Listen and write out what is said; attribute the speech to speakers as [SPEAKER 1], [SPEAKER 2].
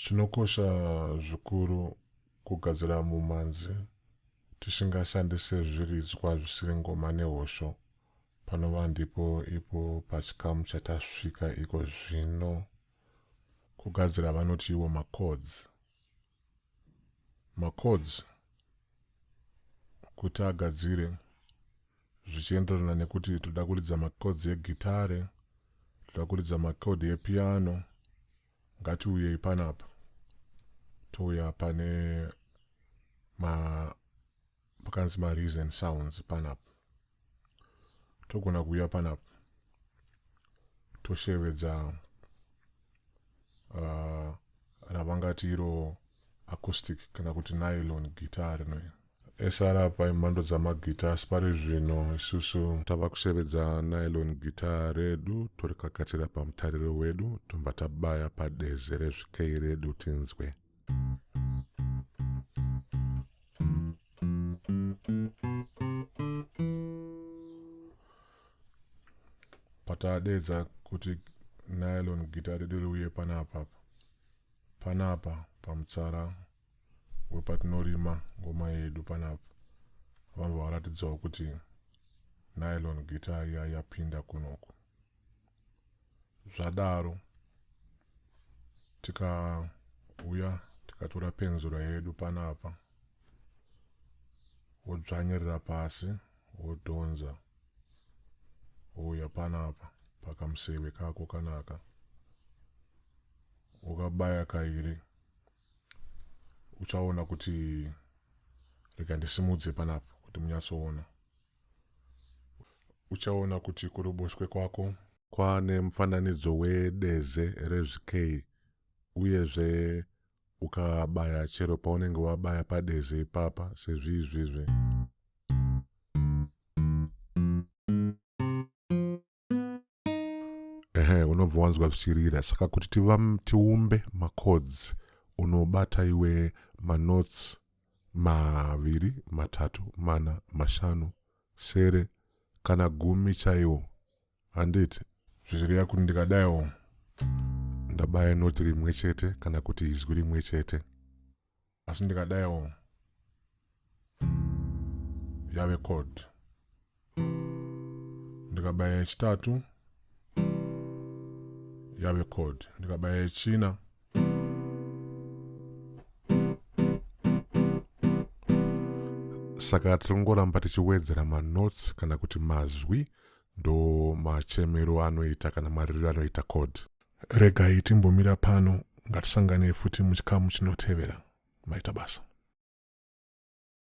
[SPEAKER 1] Chinokosha zvikuru kugadzira mumanzi tisingashandise zviridzwa zvisiri ngoma nehosho panova ndipo ipo pachikamu chatasvika iko zvino kugadzira vanoti iwo macords macodes kuti agadzire zvichienderana nekuti toda kuridza macodes egitare toda kuridza macode epiano ngatiuyei panapa touya pane ma pakanzi ma reason sounds panapa togona kuuya panapa toshevedza uh, ravangati iro acoustic kana kuti nylon guitar rino esara paimhando dzamagita asi pari zvino isusu tava kushevedza nylon guitar redu torikakatira pamutariro wedu tobva tabaya padeze rezvikei redu tinzwe patadeedza kuti nylon gitare diri uye panapa panapa pamutsara wepatinorima ngoma yedu panapa vamva varatidzawo kuti nylon gita iya yapinda kunoku zvadaro tikauya tikatora penzura yedu panapa wodzvanyirira pasi wodhonza wouya panapa pakamuseve kako kanaka ukabaya kairi uchaona kuti rega ndisimudze panapa kuti munyatsoona Uchaona kuti kuruboshwe kwako. Kwane mufananidzo wedeze rezvikei uyezve ukabaya chero paunenge wabaya padeze ipapa sezviizvizvi. ehe unobva wanzwa zvichirira saka kuti tiumbe macods unobata iwe manotes maviri matatu mana mashanu sere kana gumi chaiwo handiti zvichirira kuti ndikadaiwo ndabaya noti rimwe chete kana kuti izwi rimwe chete asi ndikadaiwo yave chord ndikabaya yechitatu yave chord ndikabaya yechina saka tiri kungoramba tichiwedzera manotes kana kuti mazwi ndo machemero anoita kana maririro anoita code Regai timbomira pano, ngatisanganei futi muchikamu chinotevera. Maita basa.